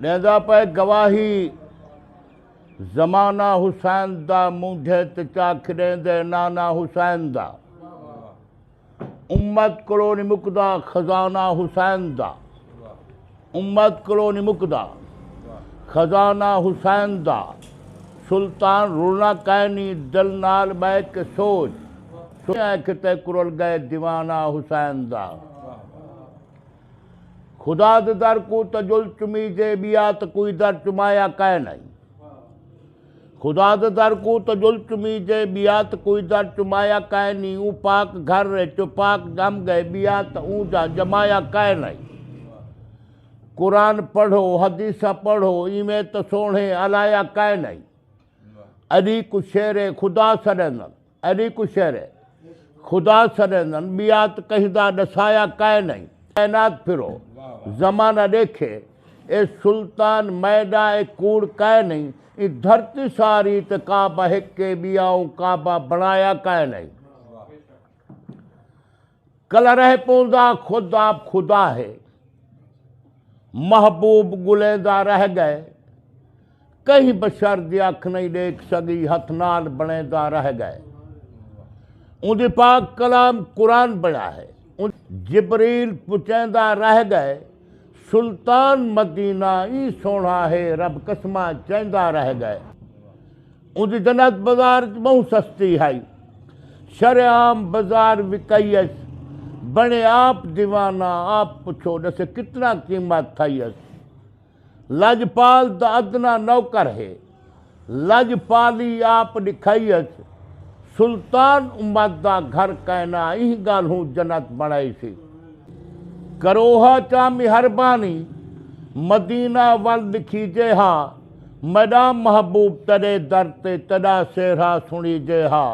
ݙیندا پئے گواہی زمانہ حسین دا مونجھے تے چا کھݙیندے نانا حسین دا امت کولو نی مکدا خزانہ حسین دا امت کولو نی مکدا خزانہ حسین دا سلطان رلنا کائنی دل نال بہ کے سوچ سوچ کتے کرل گئے دیوانہ حسین دا خدا دے در کوں تجل چمیجے بیا تے کوئی در چمایا کائے نائی۔ خدا دے در کوں تجل چمیجے بیا تے کوئی در چمایا کائے نی اوں پاک گھر وچ پاک جم گئے بیا تے اوں جا جمایا کائے نائی۔ قرآن پڑھو حدیثاں پڑھو ایویں تے سوہنے الایا کائے نائی۔ علی کوں شیر خدا سڈیندن۔ ایڈی کو شعر ہے خدا سریندن بیات کہدا ڈسایا کائے نئیں کائنات پھرو زمانہ ڈیکھے اے سلطان میڈا اے کوڑ کائے نئیں ایں دھرتی ساری تے کعبہ ہک اے بیا اوں کعبہ بنایا کائے نئیں۔ کلرہ پوندا خود آپ خدا ہے محبوب گلیں دا رہ گئے کہیں بشر دی اکھ نہیں ڈیکھ سگی ہتھ نال بنیں دا رہ گئے اوندی پاک کلام قرآن بنیا ہے جبریل پچیں دا رہ گئے سلطان مدینہ ای سونا ہے رب قسمہ چیں دا رہ گئے۔ اوندی جنت بزار اچ بہوں سستی ہئی۔ شرع عام بزار وکئی اس۔ بنڑے آپ دیوانہ آپ پچھو ڈسے کتنا قیمت تھئی اس۔ لجپال دا ادنا نوکر ہے۔ لجپالی آپ ڈکھئی اس۔ سلطان امت دا گھر کائنا ایں گالھوں جنت بنڑائی سی۔ کروہا چا مہربانی مدینہ ول ڈکھیجے ہا میڈاں محبوب تیڈے در تے تیڈا سیرھا سنڑی جے ہا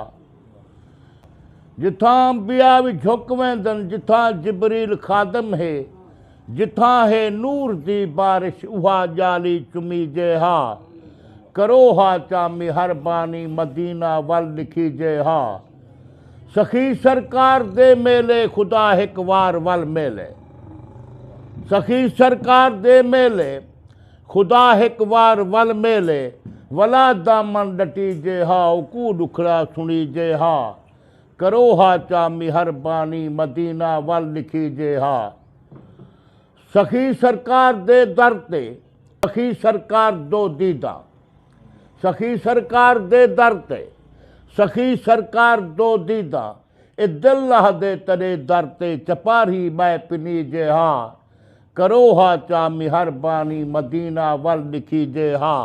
جتھاں انبیاء وی جھک ویندن جتھاں جبریل خادم ہے جتھاں ہے نور دی بارش اوہا جالی چمی جے ہا کرو ہا چامی ہر بانی مدینہ ول لکھی جے ہا سخی سرکار دے میلے خدا ہک وار ول میلے سخی سرکار دے میلے خدا ہک وار ول میلے ولا دامن ڈٹیجے ہا اوکوں ڈکھڑا سنڑیجے ہا کرو ہا چا مہربانی مدینہ ول ڈکھیجے ہا سخی سرکار دے در تے سخی سرکار دو دیدہ سخی سرکار دے در تے سخی سرکار دو دیدہ اے دل لہدے تݙے در تے چپاڑھی ٻہہ پنیجے ہاں کرو ہا چا مہربانی مدینہ ول ݙکھیجے ہاں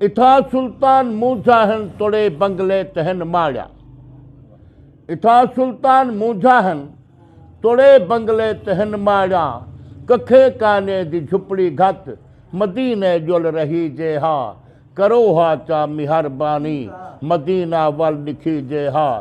اتھا سلطان مونجھا ہن تڑے بنگلے تے ہن ماڑیا اتھا سلطان مونجھا ہن تڑے بنگلے تے ہن ماڑیا ککھے کانے دی جھپڑی گھت مدینے ڄل رہیجے ہاں کرو ہا چا مہربانی مدینہ ول ݙکھیجے ہاں۔